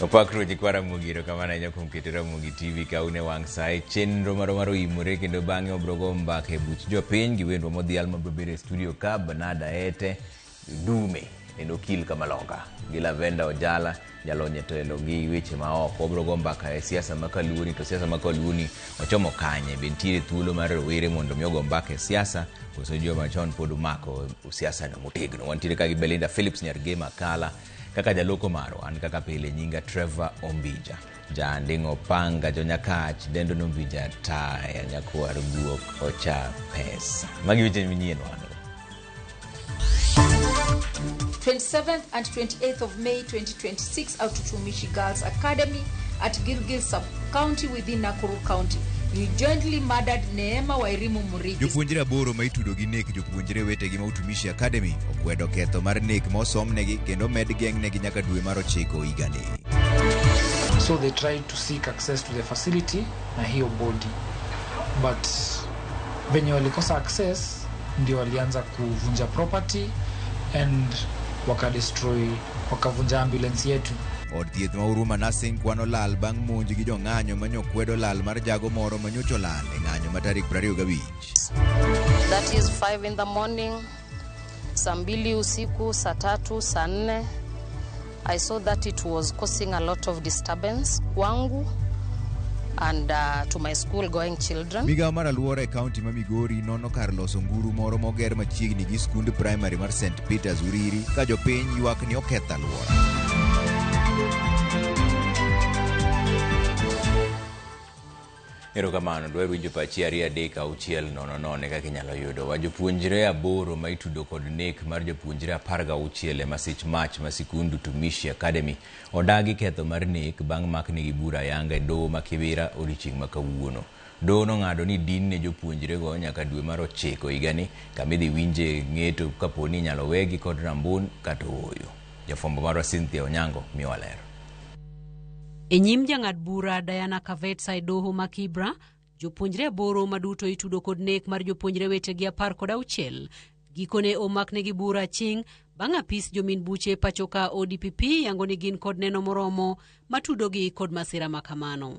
opak ruoche kwa ramogi erokamano ahinya kuom keto ramogi tv kaune wang' sae chenro maro mar oimore kendo bang'e wabrogo mbaka e buch jopiny gi wendwa modhial mabrobedo e studio ka banada ete dume en okil kamalonga gi lavenda ojala jalony e telo gi weche maoko wabrogo mbaka e siasa ma kaluoni to siasa ma kaluoni ochomo kanye be nitiere thuolo mar rowere mondo mi ogo mbaka e siasa koso joma chon pod omako siasano motegno wantiere ka gi belinda philips nyar gema kala Kaka jaloko marwa an kaka pile nyinga Trevor Ombija. Janding'o panga jonyakach dendo nombija taya nyakwar guok ocha pesa. Magi weche manyien wano. 27th and 28th of May 2026 out to Tumishi Girls Academy at Gilgil Sub county within Nakuru County. You jointly murdered Neema Wairimu Murithi. Jopuonjre aboro ma itudo gi nek jopuonjre wetegi ma Utumishi Academy okwedo ketho mar nek ma osomnegi kendo med geng'negi nyaka dwe mar ochiko higani. So they tried to seek access to the facility na hiyo body, but venye walikosa access ndio walianza kuvunja property and wakadestroy wakavunja ambulance yetu. Od thieth ma Huruma Nursing kwano lal bang' monj gi jong'anyo ma nyo kwedo lal mar jago moro ma nyocha olal e ng'anyo ma tarik 25. That is 5 in the morning, saa mbili usiku, saa tatu, saa nne. I saw that it was causing a lot of disturbance kwangu and uh, to my school going children. Migawo mar alwora e kaunti ma Migori nono kar loso nguru moro moger machiegni gi skund primary mar St. Peters Uriri ka jopiny ywak ni oketh alwora. erokamano dwaro winjo pachi ariyo adek auchiel nono nono kaka inyalo yudo wa jopuonjre aboro ma itudo kod nek mar jopuonjre apar ga auchiel e masich mach ma sikund utumishi academy odagi ketho mar nek bang' maknigi bura ayanga e doho ma kibira odiochieng' ma kawuono Doho nong'ado ni din ne jopuonjrego nyaka dwe mar ochiko higani, kama idhi winje ng'eto kapo ni inyalo wegi kod rambun kata ooyo. Jafwambo marwa Cynthia Onyango miyowa ler. E nyim jang'ad bura Diana Kavetsa e doho ma Kibra, jopuonjre aboro ma duto itudo kod nek mar jopuonjre wetegi apar kod auchiel gikone omaknegi bura ching bang' apis jomin buche pachoka ODPP yango ni gin kod neno moromo matudogi kod masira ma kamano.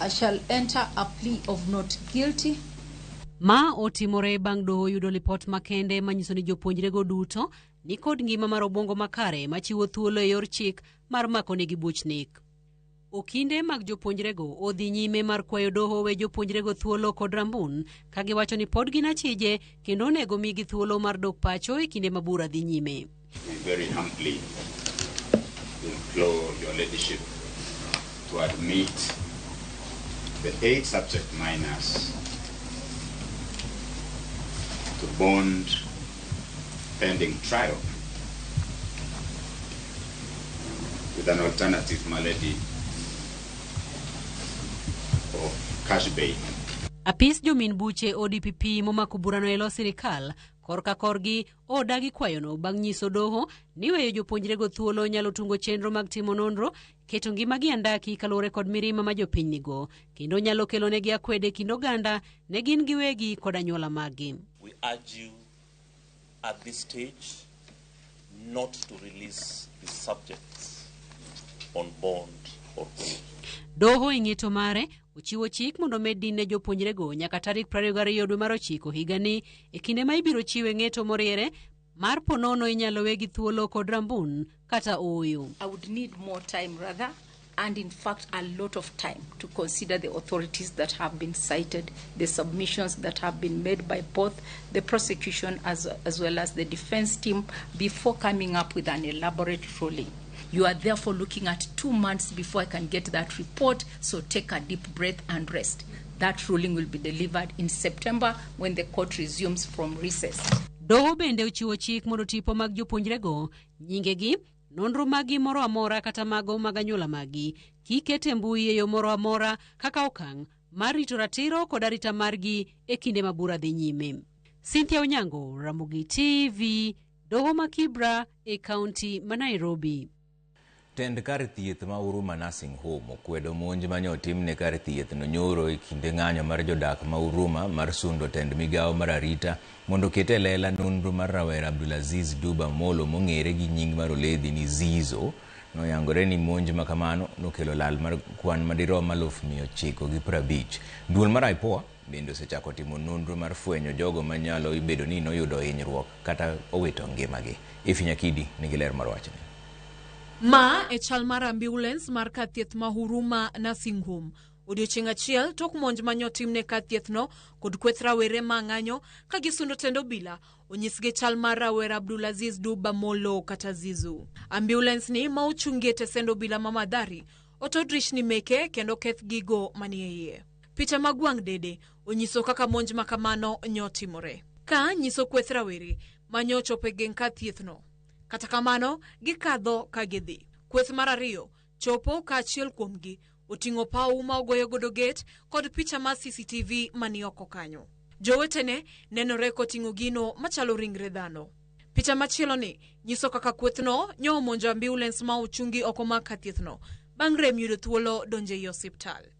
I shall enter a plea of not guilty. Ma otimore bang' doho yudo lipot makende manyiso ni jopuonjrego duto ni kod ngima mar obwongo makare machiwo thuolo e yor chik mar makonegi buch nek. Okinde mag jopuonjrego odhi nyime mar kwayo doho we jopuonjrego thuolo kod rambun ka giwacho ni pod gin achije kendo onego migi thuolo mar dok pacho e kinde ma bura dhi nyime. We very humbly implore your ladyship to admit the eight subject minors to bond pending trial with an alternative malady of cash bail. Apis jomin buche ODPP momako burano e lo sirikal korka korgi Odagi kwayono bang' nyiso doho ni weyo jopuonjrego thuolo nyalo tungo chenro mag timo nonro, keto ngimagi andaki kaluwore kod mirima ma jopiny nigo, kendo nyalo kelonegi akwede e kind oganda ne gin giwegi kod anyuola maggi. We urge you at this stage not to release the subjects on bond or bail. Doho e ng'eto mare Ochiwo chik mondo omed din ne jopuonjrego nyaka tarik 22 dwe mar ochiko higani e kinde ma ibiro chiwe ng'eto moriere mar ponono inyalo we gi thuolo kod rambun kata ooyo. I would need more time rather and in fact a lot of time to consider the authorities that have been cited, the submissions that have been made by both the prosecution as, as well as the defense team before coming up with an elaborate ruling. You are therefore looking at two months before I can get that report. So take a deep breath and rest. That ruling will be delivered in September when the court resumes from recess. Doho bende ochiwo chik mondo tipo mag jopuonjrego, nyingegi, nonro magi moro amora kata mago mag anyuola magi kik ket e mbui e yo moro amora kaka okang' mar rito ratiro kod arita margi e kinde ma bura dhi nyime. Cynthia Onyango, Ramogi TV, Doho ma Kibra e kaunti ma Nairobi. Tend kar thieth ma Huruma Nursing Home okwedo monj manye otimne kar thieth no nyoro e kinde ng'anyo mar jodak ma Huruma mar sundo tend migawo mar arita mondo oket e lela nonro mar rawera Abdulaziz Duba Amolo mong'ere gi nying mar oledhi ni Zizo. Noyangore ni monj makamano nokelo lal mar kwan madirom aluf mia ochiko gi prabich. Duol mar IPOA Bende osechako timo nonro mar fwenyo jogo ma nyalo bedo ni noyudo hinyruok kata owito ngimagi. Iphy Nyakidi nigi ler mar wachni. Ma e chal mar ambiulens mar kar thieth ma Huruma Nursing Home odiochieng' achiel tok monj manye otimne kar thiethno kod kweth rawere ma ng'anyo ka gisundo tend obila onyisgi chal mar rawera Abdulaziz Duba Molo kata Zizu. Ambiulens ni ma ochungi e tesend obila ma Mathari oto drishni meke kendo oketh gigo manie iye. Picha mag wang' dede onyiso kaka monj ma kamano nyo timore. Ka nyiso kweth rawere ma nyo chopo e geng' kar thiethno. Kata kamano, gikadho ka gidhi. Kweth mar ariyo chopo ka achiel kuomgi oting'o pawu ma ogoyo godo gate kod picha mar CCTV ma ni oko kanyo. Jowetene nenore koting'o gino machalo ringre dhano. Picha machieloni nyiso kaka kwethno nyo omonjo ambiulens ma ochungi oko mar kar thiethno bang' rem yudo thuolo donjo ei osiptal.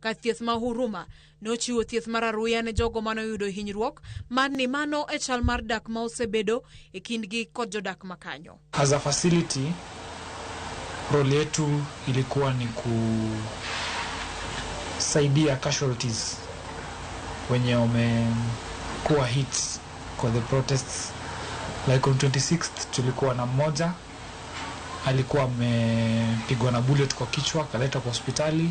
Ka thieth ma Huruma nochiwo thieth mar aruya ne jogo mane oyudo hinyruok mar ni mano e chal mar dak ma osebedo e kindgi kod jodak ma kanyo. As a facility role yetu ilikuwa ni kusaidia casualties wenye wamekuwa hit kwa the protests like on 26th tulikuwa na mmoja alikuwa amepigwa na bullet kwa kichwa akaletwa kwa hospitali.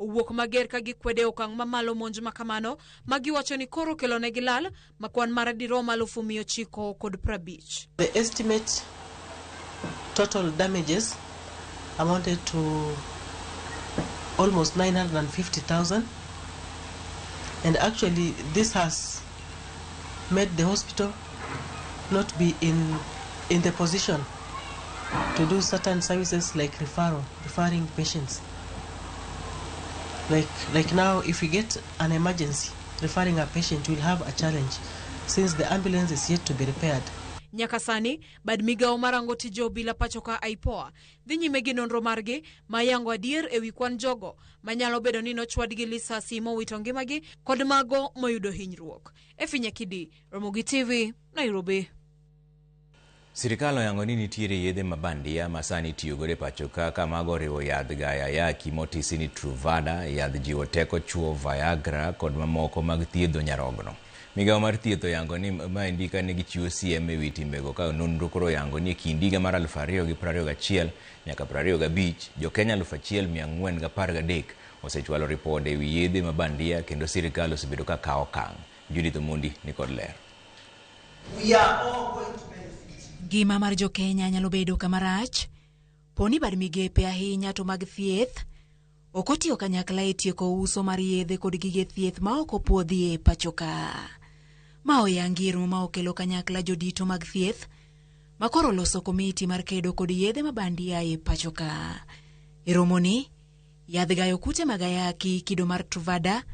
owuok mager ka gikwede okang' mamalo monj ma kamano ma giwacho ni koro okelonegi lal ma kwan mare dirom alufu mia ochiko kod prabich. The estimate total damages amounted to almost 950,000 and actually this has made the hospital not be in, in the position to do certain services like referral. referring patients. Like, like now, if we get an emergency referring a patient, we'll have a challenge since the ambulance is yet to be repaired. nyaka sani bad migawo marango tije obila pachoka aipoa dhi nyime gi nonro margi ma yango adier e wi kwan jogo manyalo bedo ni nochwad gi lisasi mowito ngimagi kod mago moyudo hinyruok efinya kidi romogi tv nairobi Sirkal oyango ni nitiere yedhe ma bandia ma sani itiyogodo e pacho ka ka mago oriwo yadh Gayayaki motisi ni Truvada, yadh jiwo teko chuo Viagra kod mamoko mag thiedho nyarogno. Migawo mar thieth oyango ni maendi kane gichiwo siem e wi timbego ka nonro koro oyango ni e kind higa mar aluf ariyo gi prariyo gachiel nyaka prariyo gabich, jo Kenya aluf achiel mia ang'wen gapar gadek osechwalo ripode e wi yedhe ma bandia kendo sirkal osebedo ka kawo okang'. Judith Omondi ni kod ler. We are all going to benefit. Ngima mar jo-Kenya nyalo bedo kama rach poni bad migepe ahinya to mag thieth ok otiyo kanyakla e tieko uso mar yedhe kod gige thieth ma ok opuodhi e pachoka. Ma oyangi romo ma okelo kanyakla jodito mag thieth ma koro loso komiti mar kedo kod yedhe ma bandia e pachoka. E romoni, yadh gayo kute mag ayaki kido mar Truvada,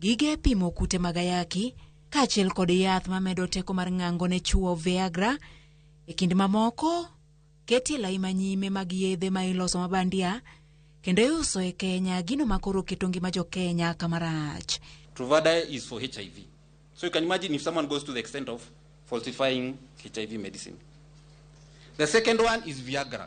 gige pimo kute mag ayaki, kaachiel kod yath mamedo teko mar ng'ango ne chwo Viagra. E kind mamoko, ketie lai manyime mag yedhe ma iloso mabandia kendo iuso e Kenya, gino ma koro keto ngima jo Kenya kama rach. Truvada is for HIV. So you can imagine if someone goes to the extent of falsifying HIV medicine. The second one is Viagra.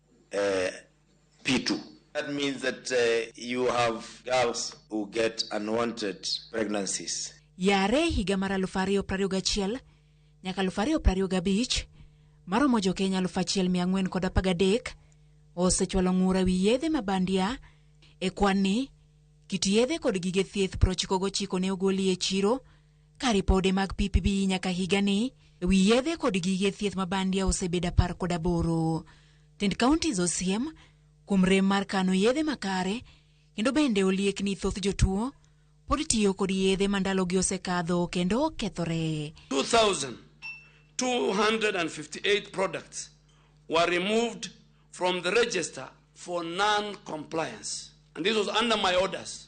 uh, P2. That means that uh, you have girls who get unwanted pregnancies. Yare higa mar 2021 nyaka 2025 maromo jokenya 1413 osechwalo ng'ura wi yedhe ma bandia e kwanni kit yedhe kod gige thieth 99 ne ogoli e chiro ka ripode mag PPB nyaka higani e wi yedhe kod gige thieth ma bandia osebedo apar kod aboro. Tend counties osiem kuom rem mar kano yedhe makare kendo bende oliek ni thoth jotuo pod tiyo kod yedhe ma ndalogi osekadho kendo okethore. 2,258 products were removed from the register for non-compliance. And this was under my orders.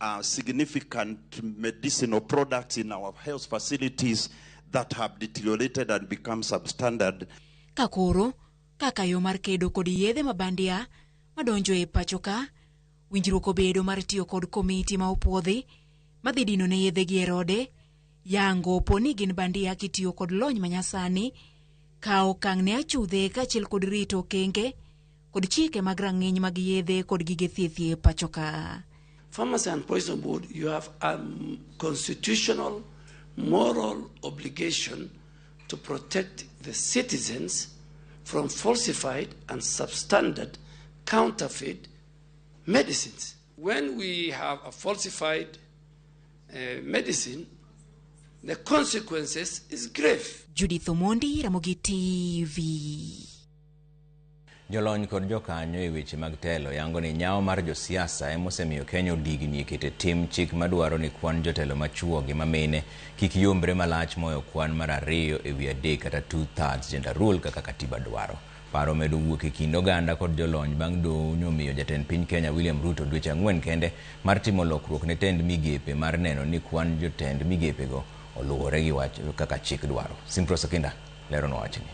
uh, significant medicinal products in our health facilities that have deteriorated and become substandard. Ka koro, kaka yo mar kedo kod yedhe mabandia madonjo e pacho ka, winjruok obedo mar tiyo kod komiti ma opwodhi madhi dino ne yedhe gi e rode, Yango po ni gin bandia kitiyo kod lony manyasani, kawo okang' ne achudhe kaachiel kod rito okenge kod chike mag rang'iny mag yedhe kod gige thieth e pacho ka. Pharmacy and Poison Board, you have a um, constitutional moral obligation to protect the citizens from falsified and substandard counterfeit medicines. When we have a falsified uh, medicine, the consequences is grave. Judith Omondi, Ramogi TV. Jolony kod jokanyo e weche mag telo yango ni nyawo mar josiasa ema osemiyo Kenya odigni e kete tim chik madwaro ni kwan jotelo machuo gi mamine kik yombre malach moyo kwan mar ariyo e wi adek kata two thirds gender rule kaka katiba dwaro. Paro medo wuok e kind oganda kod jolony bang' doho nyomiyo jatend piny Kenya William Ruto dweche ang'wen kende mar timo lokruok ne tend migepe mar neno ni kwan jotend migepego oluwore gi wach kaka chik dwaro. Simprose Okinda leronwa wachni.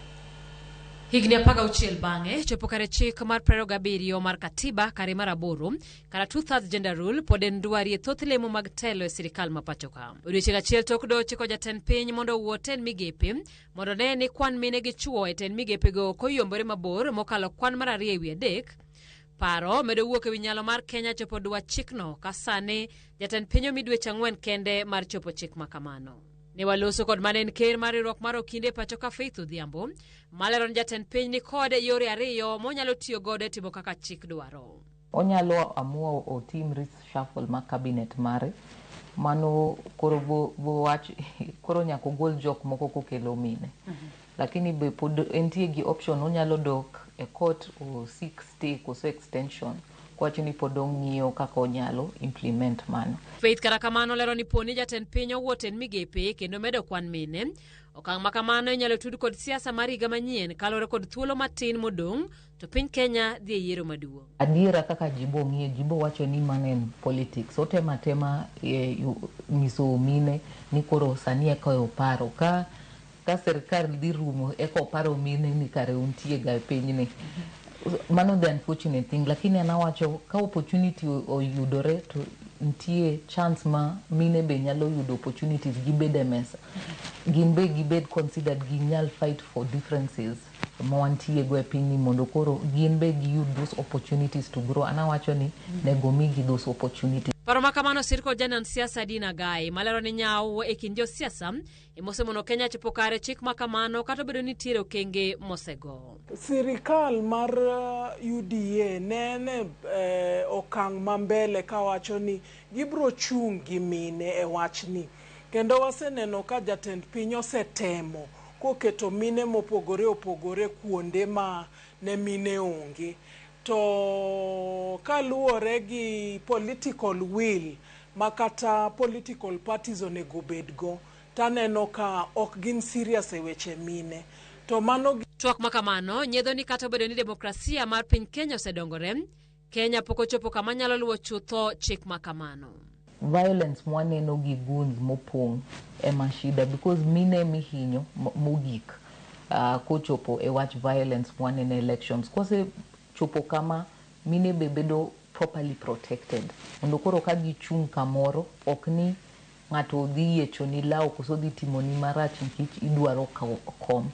Higni apar gauchiel bang'e chopo kare chik mar prero gabiriyo mar Katiba kare mar aboro kata two thirds gender rule pod en dwari e thoth lemo mag telo e sirikal ma pachoka. Odiochieng' achiel tok doho chiko jatend piny mondo owuo tend migepe mondo ne ni kwan mine gi chwo e tend migepego ok oyombore mabor mokalo kwan mar ariyo e wi adek. Paro medo wuok e wi nyalo mar Kenya chopo dwach chikno ka sani jatend piny omi dweche ang'wen kende mar chopo chik ma kamano. Ne waloso kod mane en ker mar riwruok mar Okinde pacho ka Faith Odhiambo malero ni jatend piny ni kod yore ariyo monyalo tiyo godo e timo kaka chik dwaro. Onyalo amua otim reshuffle mar cabinet mare, mano koro bo, bo wach, koro nyaka ogol jok moko kokelo mine. Lakini be pod entie gi option onyalo dok e court osik stay koso extension kowacho ni pod ong'iyo kaka onyalo implement mano. Faith kata kamano lero ni poni jatend piny owuot en migepe kendo medo kwan mine, okang' ma kamano inyalo tud kod siasa mar higa manyien kalure kod thuolo matin modong' To piny Kenya dhi e yiero maduong'. Adiera kaka jibo ng'iyo, jibo wacho ni mano en politics. Otema tema e, nyiso mine ni koro sani eka oparo ka ka sirkal dhi rumo eka oparo mine ni kare untie ga e pinyni. Mano the unfortunate thing, lakini an awacho ka opportunity oyudore to nitie chance ma mine be nyalo yudo opportunities gibed e mesa. Gin be gibed considered ginyal fight for differences. ma wantie go e piny ni mondo koro gin be giyud those opportunities to grow. An awacho ni nego omigi those opportunities. Paro ma kamano osir kod janon siasa Dina Gai malero ni nyawo e kind josiasa emosemono Kenya chopo kare chik ma kamano kata obedo ni nitiere okenge mosego. Sirikal mar UDA ne en e okang' ma mbele kawacho ni gibiro chung' gi mine e wachni kendo waseneno ka jatend piny osetemo koketo mine mopogore opogore kuonde ma ne mine onge. To kaluwore gi political will ma kata political parties onego obed go, to aneno ka ok gin serious e weche mine. To mano. Twak ma kamano nyedho ni kata obedo ni demokrasia mar piny Kenya osedongore, Kenya pok ochopo kama nyalo luwo chutho chik ma kamano. Violence mwaneno gi goons mopong' ema shida because mine ema ihinyo mogik uh, kochopo e wach violence mwaneno elections. Kose chopo kama mine be bedo properly protected mondo koro ka gichung' kamoro ok ni Ng'ato odhi yiechoni law koso odhi timoni marach nikech idwaro kom.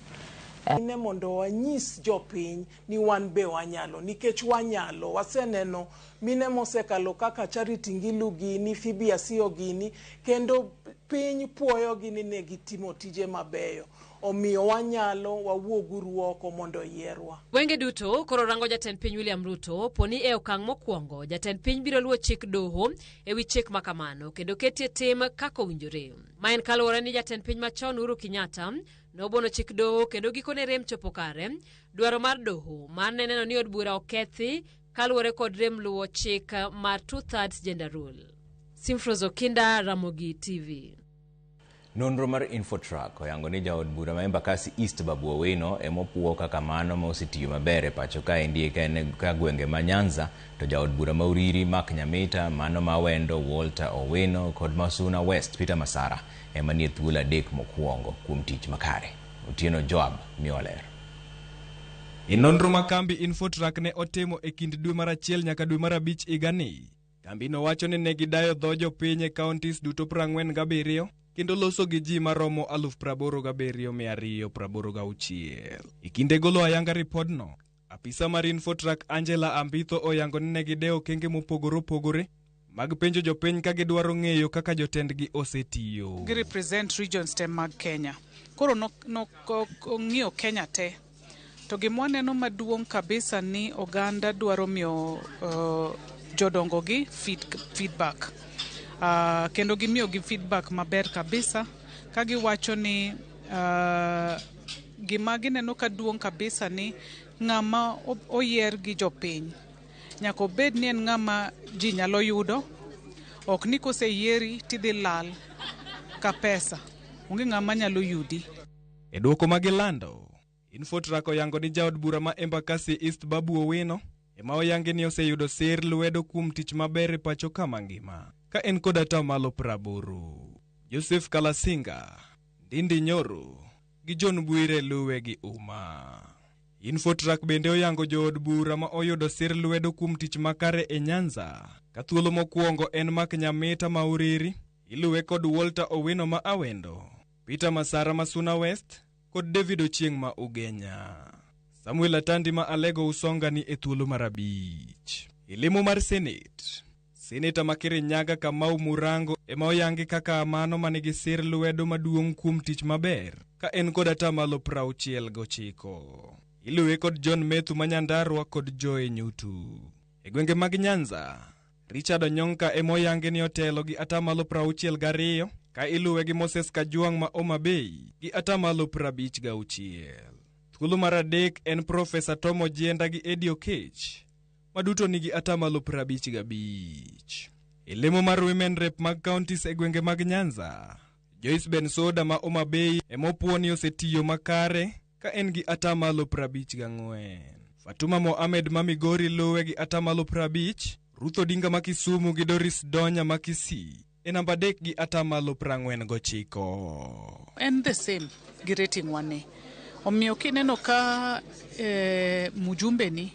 Nyime mondo wanyis jopiny ni wan be wanyalo nikech wanyalo. Waseneno mine mosekalo kaka Charity Ngilu gini, Phoebe Asiyo gini kendo piny puoyogi ni ne gitimo tije mabeyo. Omiyo wanyalo, wawuog uru oko mondo oyierwa. Wenge duto koro rango Jatend Piny William Ruto, poni e okang' mokwongo Jatend Piny biro luwo chik doho, e wi chik ma kamano kendo ketie tim kaka owinjore ma en kaluwore ni jatend piny machon Uhuru Kenyatta nobono chik doho kendo gikone rem chopo kare dwaro mar doho mar ne neno ni od bura okethi kaluwore kod rem luwo chik mar two thirds gender rule. Simfros Okinda, Ramogi TV. Nonro mar Infotrack oyango ni jaod bura ma Embakasi East Babu Owino ema opuo kaka mano ma osetiyo maber e pacho kaendi ka en ka gwenge ma Nyanza to jaod bura ma Uriri Mark Nyamita, mano ma Awendo Walter Owino kod ma Suna West Peter Masara ema nie thuolo adek mokuongo kuom tich makare. Otieno Joab miwa ler. E nonro ma kambi Infotrack ne otimo e kind dwe mar achiel nyaka dwe mar abich higani, Kambino wacho ni ne gidayo dho jopiny e counties duto 47 kendo loso gi ji maromo 87,286. E kinde golo ayanga ripodno, apisa mar Infotrak Angela Ambitho oyango ni ne gidewo okenge mopogore opogore mag penjo jopiny ka gidwaro ng'eyo kaka jotendgi osetiyo. gi represent regions te mag Kenya. Koro nong'iyo Kenya te To gima waneno maduong' kabisa ni oganda dwaro miyo uh, jodongogi feed, feedback uh, kendo gimiyogi feedback maber kabisa ka giwacho ni uh, gima gineno ka duong' kabisa ni ng'ama oyier gi jopiny nyaka obed ni en ng'ama ji nyalo yudo ok ni koseyieri tidhi lal ka pesa onge ng'ama nyalo yudi E dwoko ma gilando, Infotrack oyango ni jaod bura ma Embakasi East Babu Owino ema oyangi ni oseyudo sir lwedo kuom tich maber e pacho ka mangima ka en kod atamalo praboro. Joseph Kalasinga, Ndindi Nyoro gi John Bwire luwe gi uma. Infotrack bende oyango jood bura ma oyudo sir lwedo kuom tich makare e Nyanza ka thuolo mokwongo en Mark Nyamita ma Uriri, iluwe kod Walter Owino ma Awendo. Peter Masara ma Suna West kod David Ochieng' ma Ugenya. Samuel Atandi ma Alego Usonga ni e thuolo mar abich. E lemo mar Senate, Seneta ma Kirinyaga Kamau Murango ema oyangi kaka mano ma nigi sir lwedo maduong' kuom tich maber ka en kod atamalo prauchiel gochiko. Iluwe kod John Methu ma Nyandarua kod Joe Nyutu. E gwenge mag Nyanza, Richard Onyonka ema oyangi ni otelo gi atamalo prauchiel gariyo ka iluwe gi Moses Kajwang' ma Homa Bay gi atamalo prabich gauchiel. Thuolo mar adek en Profesa Tom Ojienda gi Eddie Oketch ma duto nigi atamalo prabich gabich. E lemo mar Women Rep mag counties e gwenge mag Nyanza, Joyce Bensoda ma Homa Bay ema opuo ni osetiyo makare ka en gi atamalo 54. Fatuma Mohamed ma Migori luwe gi atamalo 50, Ruth Odinga ma Kisumu gi Doris Donya ma Kisii e namba adek gi atamalo 49. en the same gi rating wane omiyo kineno ka eh, mujumbe ni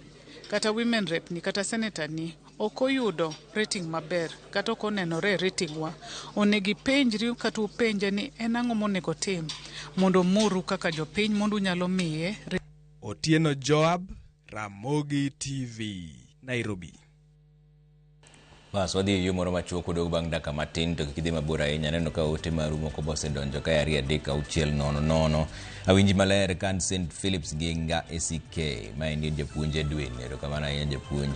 kata women rep ni kata senator ni ok oyudo rating maber kata ok onenore e rating wa, onego ipenjri kata upenje ni en ang'o monego otim mondo omuru kaka jopiny mondo unyalo miye rating. Otieno Joab, Ramogi TV, Nairobi. Bas wadhi e yo moro machuok wadog bang' dakika matin to kik idhi mabor ahinya aneno ka ote maru moko be osedonjo kae ariyo adek auchiel nono nono awinji maler kan st philips gi nga eck ma en japuonj edwin erokamano ahinya japuonj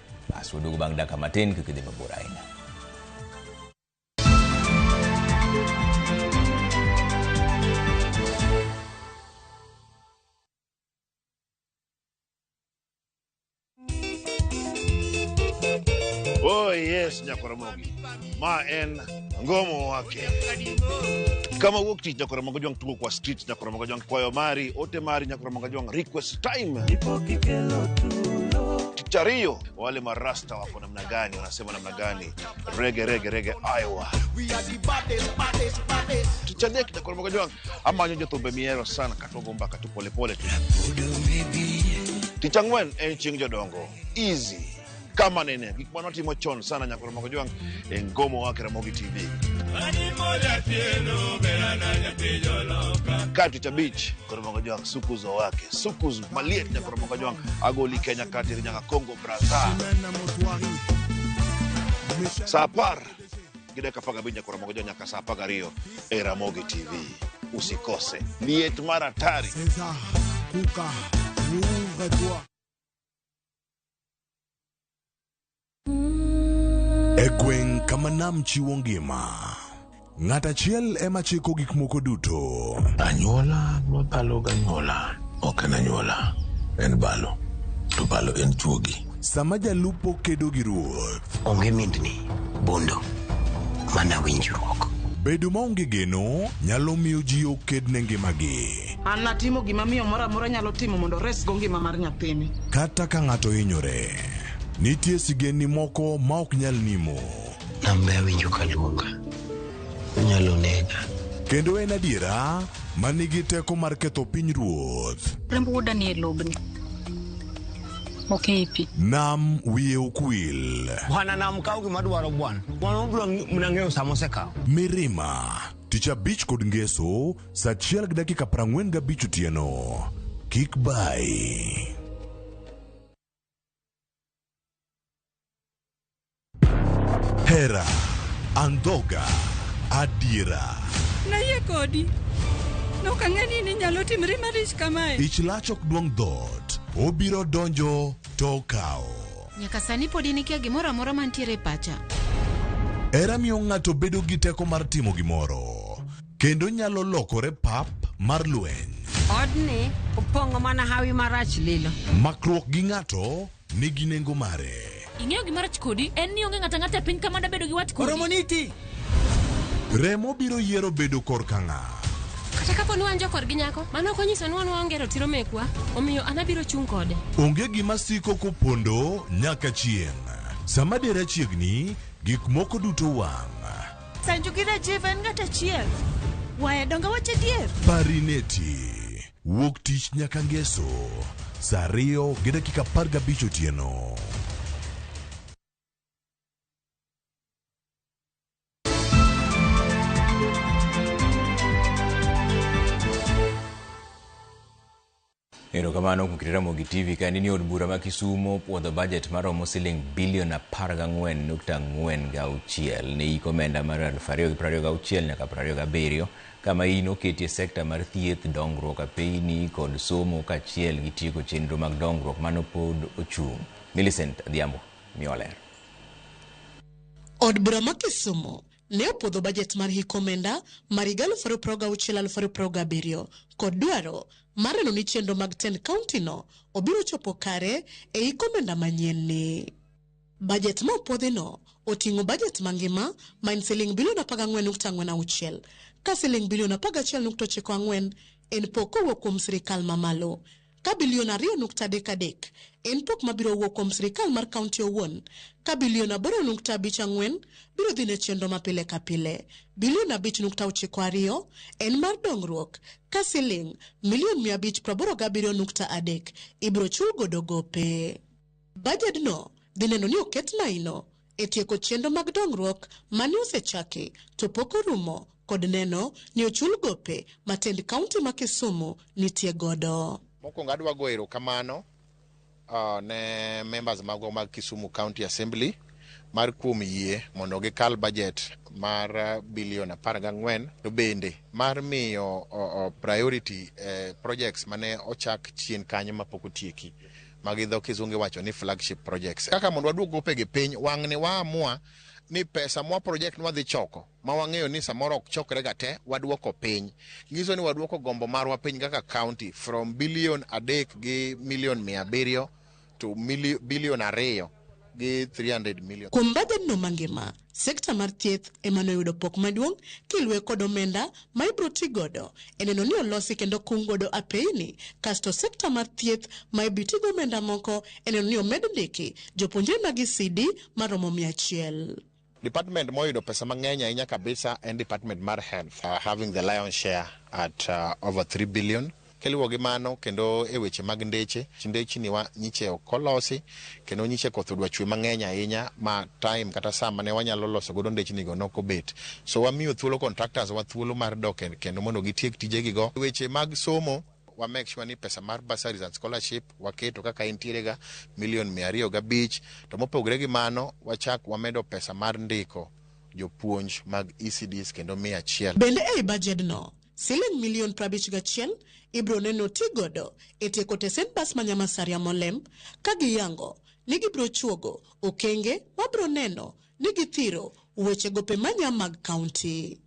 Basi wadugu bang' dakika matin kik idhi mabor ahinya. Oh yes, Nyakoromogi. ma en ngomo wake kama wuok tich nyakoromo ga jwang' tugo kwa street nyakoromo ga jwang' kwayo mari ote mari nyakoromo ga jwang' request time tich ariyo wale marasta wako namna gani wanasema namna gani rege rege rege iowa tich adek nyakoromo ga jwang' amanyo jothumbe mihero sana katogo mbaka tu polepole tu tich ang'wen en chieng' jodongo easy kama nene gik ma notimo chon sana nyaka Ramogi Jwang' e ngomo wake Ramogi TV. Kati tabich Ramogi Jwang' sukuzo wake sukuzu maliet nyaka Ramogi Jwang' agoli Kenya kati nyaka Congo Brazza saa apar gi dakika apar gabich nyaka Ramogi Jwang' nyaka saa apar gariyo e Ramogi TV usikose liet mar hatari César, Kuka, Louvre, toi. E gweng' kama nam chiwo ngima, ng'at achiel ema chiko gik moko duto. Anyuola ma balo ganyuola ok en anyuola, en balo. To balo en chuogi. Sama jalupo kedo gi ruoth. Onge mindni, bondo, mana winjruok. Bedo maonge geno nyalo miyo ji oked ne ngimagi. An natimo gima miyo moro amora nyalo timo mondo oresgo ngima mar nyathini. Kata ka ng'ato hinyore, nitie sigendni moko ma ok nyal nimo. Nambe awinjo ka luonga, onyalo nega. Kendo en adiera ma nigi teko mar ketho piny ruoth. Remb wuoda ni e lobni. Ok e pi. Nam wiye ukwil. Bwana nam kaw gima dwaro bwana. Bwana obiro mna ng'eyo sama osekawo. Mirima, tich abich kod ngeso Sa achiel gi dakika prang'wen gabich otieno. Kik bayi. Hera, andhoga, adiera. Nayie kodi. Nok ang'e ni ninyalo timri malich kamae. Ich lach ok duong' dhoot. Obiro donjo to okawo. Nyaka sani pod in ikia gimoro amora mantiere e pacha. Hera miyo ng'ato bedo gi teko mar timo gimoro. Kendo nyalo lokore pap mar lweny. Odni opong'o mana hawi marach lilo. Makruok gi ng'ato nigi nengo mare. Ing'eyo gima rach kodi en ni onge ng'ata ng'ata e piny kama dabedo gi wat kodi. Oromo niti. Remo biro yiero bedo korka ng'a. Kata kapo ni wan jokor gi nyako, mano ok onyiso ni wan waonge ratiro mekwa, omiyo an abiro chung' kode. Onge gima siko kopondo nyaka chieng'. Sama dera chiegni, gik moko duto wang'. Sanju gi Rajiv en ng'at achiel. Waya donge wacho adier? Parineti wuok tich nyaka ngeso saa ariyo gi dakika apar gabich otieno. Erokamano kuom kit Ramogi TV. Ka nini od bura ma Kisumo puodho budget maromo siling bilion 14.46 ne yik omenda mar 2026 nyaka 27 kama iyi noketie sekta mar thieth, dongruok apeini kod somo kachiel gi tieko chenro mag dongruok mano pod ochung'. Millicent Adhiambo miwa ler. Od bura ma Kisumo ne opwodho bajet mar hik omenda mar higa aluf ariyo prariyo gauchiel aluf ariyo prariyo gabiriyo kod dwaro mar neno ni chenro mag tend kaunti no obiro chopo kare e hik omenda manyien ni. Bajet ma opwodhi no oting'o bajet mangima ma en siling bilion apar gang'wen nukta ang'wen auchiel ka siling bilion apar gachiel nukta ochiko ang'wen en pok kowuok kuom sirikal mamalo ka bilion ariyo nukta adek adek en pok ma biro wuok kuom sirkal mar kaunti owuon, ka bilion aboro nukta abich ang'wen biro dhi ne chenro ma pile ka pile, bilion abich nukta ochiko ariyo en mar dongruok, ka siling' milion mia abich praboro gabiriyo nukta adek ibiro chul godo gope. Bajedno dhi neno ni oket maino e tieko chenro mag dongruok mane osechaki to pok orumo kod neno ni ochul gope ma tend kaunti ma Kisumu nitie godo. Mokwongo adwa go erokamano uh, ne members magwa mag Kisumu County Assembly mar kuom yie mondo gikal budget mar uh, bilion apar gang'wen to bende mar miyo uh, uh, priority eh, projects mane ochak chien kanyo mapok otieki. ma gi dho kisungu iwacho ni flagship projects. Kaka mondo waduog gopegi piny, wang'ni waamua ni pesa mwa project mwadhi choko ma wang'eyo ni samoro ok chokre ga te waduoko piny. Nyiso ni waduoko gombo marwa piny kaka county from billion adek gi million mia abiriyo to mili- billion ariyo gi 300 million. Kuom bajedno mangima, Sekta mar thieth ema noyudo pok maduong' kilwe kod omenda ma ibro ti godo e neno ni olosi kendo okung godo apeyini kasto sekta mar thieth ma ibi ti gi omenda moko e neno ni omed ndiki jopuonjre mag ECD maromo mia achiel. Department moyudo pesa mang'eny ahinya kabisa en department mar health, having the lion share at over three billion. Kiluwo gi mano kendo e weche mag ndeche, ndechni wa nyiche ok olosi kendo nyiche koth odwa chwe mang'eny ahinya ma time kata saa mane wanyalo loso godo ndechni go nok obet. So wamiyo thuolo contractors wa thuolo mar dok e kendo mondo gitiek tijegi go. Weche mag somo, wa make sure ni pesa mar bursaries and scholarship waketo kaka entiere ga million mia ariyo gabich. To mopogre gi mano, wachak wamedo pesa mar ndiko jopuonj mag ECDs kendo mia achiel. Bende ei bajedno, Siling milion prabich gachiel ibiro neno ti godo e tieko tesend bas ma Nyamasaria Molem ka giyango ni gibiro chuogo okenge ma biro neno ni githiro weche gope manya mag kaunti.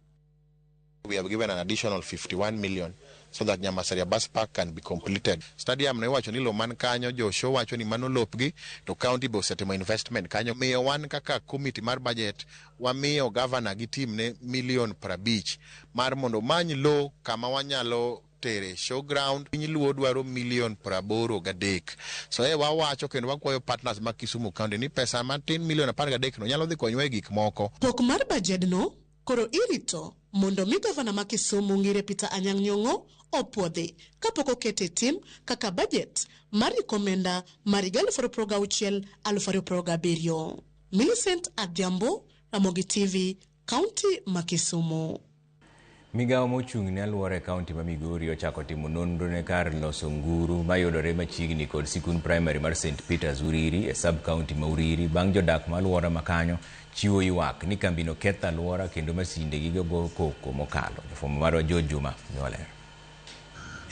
We have given an additional 51 million so that Nyamasaria bus park can be completed. Stadium no iwacho ni lo man kanyo jo show wacho ni mano lopgi to county be osetimo investment kanyo. Omiyo wan kaka committee mar budget Wamiyo gavana gi timne milion prabich mar mondo omany lo kama wanyalo tere show ground. Piny Luo dwaro milion praboro gadek. So e wawacho kendo wakwayo partners mag Kisumu County ni pesa matin milion apar gadek no nyalo dhi konywa e gik moko. Pok mar bajedno koro irito mondo mi gavana ma Kisumu Ngire Peter Anyang' Nyong'o opuodhi kapok okete e tim kaka bajet mar iko omenda mar higa alufu ariyo progauchiel, alufu ariyo progabiriyo. Millicent Adhiambo, Ramogi TV, Kaunti ma Kisumu. Migawo mochung' ne alwora e kaunti ma Migori ochako timo nonro ne kar loso nguru mayudore machiegni kod sikund primary mar St Peters Uriri e sub kaunti ma Uriri bang' jodak ma alwora ma kanyo chiwo ywak ni kambino ketho alwora kendo masinde gi gogo koko mokalo. Jofwambo marwa George Juma miwa ler.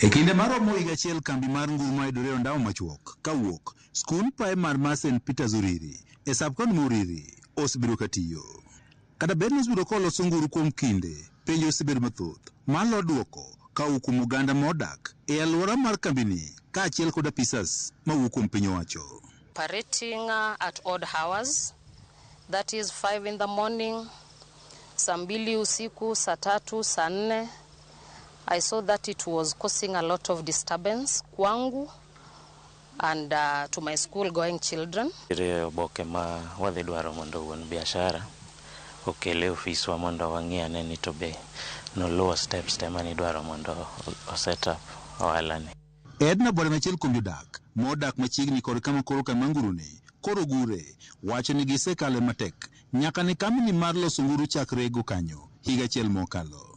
E kinde maromo higa achiel kambi mar nguru mayudore e ondamo machuok kawuok Skund praimar mar Saint Peters Uriri e sub-county ma Uriri osebedo ka tiyo. Kata bed ni osebedo ka oloso nguru kuom kinde, penjo osebedo mathoth ma lor dwoko ka owuok kuom oganda ma odak e alwora mar kambini kaachiel kod apisas ma wuok kuom piny owacho. operating at odd hours, that is five in the morning, saa mbili usiku, saa tatu, saa nne. I saw that it was causing a lot of disturbance kwangu. and uh, to my school going children. Nitiere oboke ma wadhi dwaro mondo wuon biashara okele ofiswa mondo wang'i ane ni to be noluwo steps te mane idwaro mondo o- o set up ohalani. Edna Bwada en achiel kuom jodak ma odak machiegni kod kama koro kama nguruni koro ogure wacho ni gisekale matek nyaka ne kambini mar loso nguru chak rego kanyo higa achiel mokalo.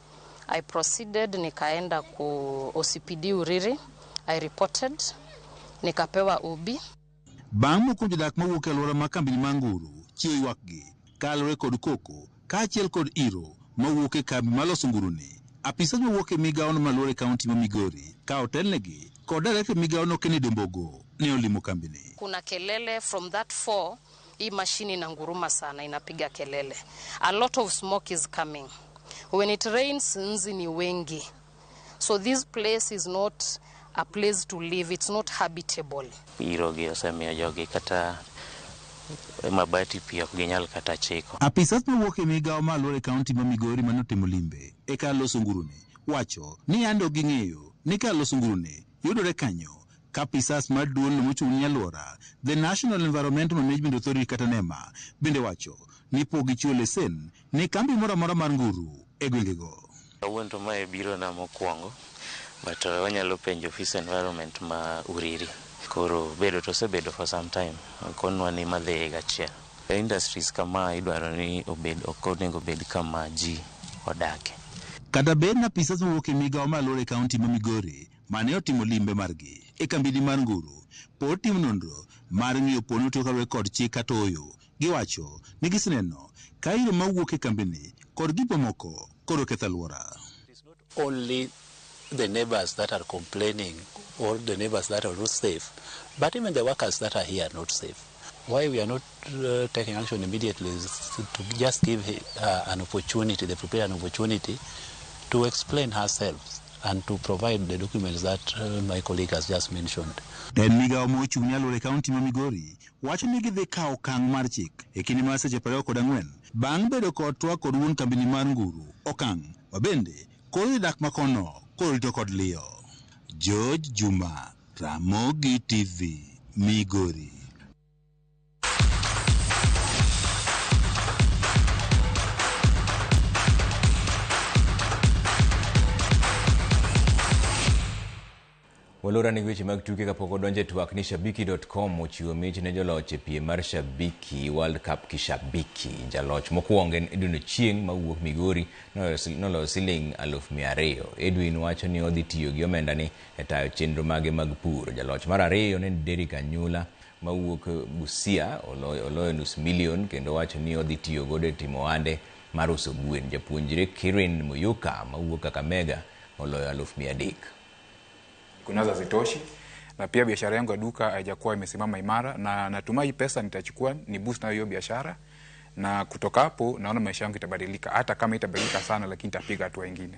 I proceeded nikaenda ku OCPD Uriri. I reported nikapewa OB. Bang' moko jodak mawuok e alwora ma kambini ma Nguru chiwo ywakgi kalore kod koko kaachiel kod iro mawuok e kambi maloso nguruni, apisas mawuok e migawono malwar e kaunti ma Migori ka otelnegi kod director e migawono Kennedy Ombogo ne olimo kambini. Kuna kelele from that four Hii mashini inanguruma sana, inapiga kelele. A lot of smoke is coming. When it rains, nzi ni wengi. So this place is not a place to live. It's not habitable. Irogi osemiyo jogi kata mabati pi ok ginyal kata chiko. Apisas mawuok e migao ma aluora e kaunti ma Migori mane otimo limbe e kar loso nguruni wacho ni yande ok ging'eyo ni kar loso nguruni yudore kanyo Kapisas mar duolno mochung' ni alwora, The National Environmental Management Authority kata nema, bende wacho ni pok gichiwo lesen ne kambi moro amora mar nguru e gwengego. Kawuono to mae biro na mokuongo but wanyalo penjo ofis environment ma Uriri. Koro bedo to osebedo for some time konwa ni ma dhi higa achiel. Industries kama idwaro ni obed ok onego obed kama ji odake. Kata bed ni apisas mawuok e migao mar alwora e kaunti ma Migori mane otimo limbe margi e kambini mar Nguru pod timo nonro mar ng'iyo poni otiyo kaluwore kod chik kata ooyo. Giwacho ni giseneno ka iro mawuok e kambini kod gik mamoko koro ketho aluora. only the neighbors that are complaining or the neighbors that are not safe but even the workers that are here are not safe why we are not uh, taking action immediately is to just give uh, an opportunity, the preparer an opportunity to explain herself and to provide the documents that uh, my colleague has just mentioned. En migawo ma ochung' ne alwora e kaunti ma Migori wacho ni gidhi kawo okang' mar chik e kinde mar seche prariyo kod ang'wen bang' bedo kod twak kod wuon kambini mar Nguru Okang' ma bende koro dhi dak makono koro rito kod liyo. George Juma, Ramogi TV, Migori. walora ni weche mag tuke kapok odonje twak ni shabiki.com ochiwo mich ne joloch e piem mar shabiki world cup kishabiki jaloch mokwongo en edwin ochieng mawuok migori noloyo siling aluf mia ariyo edwin wacho ni odhi tiyo gi omendani e tayo chenro mage mag pur. Jaloch mar ariyo ne Derrick Anyula mawuok Busia oloyo, oloyo nus milion kendo wacho ni odhi tiyo godo e timo ohande mar uso gwen. Japuonjre Kirin Muyuka mawuok Kakamega oloyo aluf mia adek. kunazo hazitoshi na pia biashara yangu ya duka haijakuwa imesimama imara, na natumai hii pesa nitachukua ni boost nayo hiyo biashara, na kutoka hapo naona maisha yangu itabadilika, hata kama itabadilika sana, lakini itapiga hatua ingine.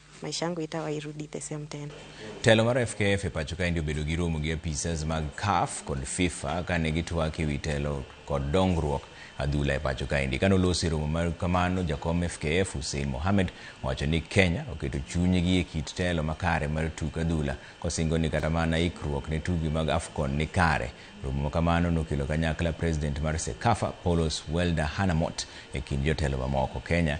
Maisha yangu itawa irudi the same tena. Telo mar FKF e pacho kaendi obedo gi romo gi apisas mag CAF kod FIFA kane gitwak e wi telo kod dongruok adhula e pacho kaendi. Kane olosi e romo mar kamano, jakom FKF Hussein Mohamed owacho ni Kenya oketo chunygi e kit telo makare mar tuk adhula kosingo ni kata mana ikruok ne tugi mag AFCON ni kare. Romo makamano nokelo kanyakla president mar CECAFA Paulos Welder Hanamot e kind jotelo mamoko. Kenya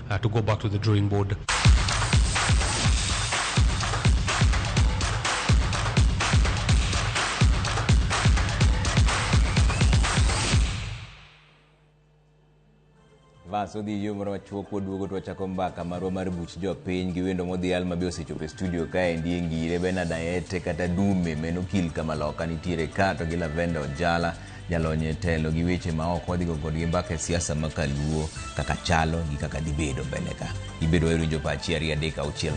uh, to go back to the drawing board. Vas odhi yo moro machuok waduogo to wachako mbaka marwa mar buch jopiny gi wendo modhi alma be osechopo e studio kaendi e ngire benard ayete kata dume meno kil kama loka nitiere ka to gi lavenda ojala jalony e telo gi weche ma ok wadhigo kodgi mbaka e siasa ma kaluo kaka chalo gi kaka dhibedo mbele ka ibedo wayudo jo pachi ariyo adek auchiel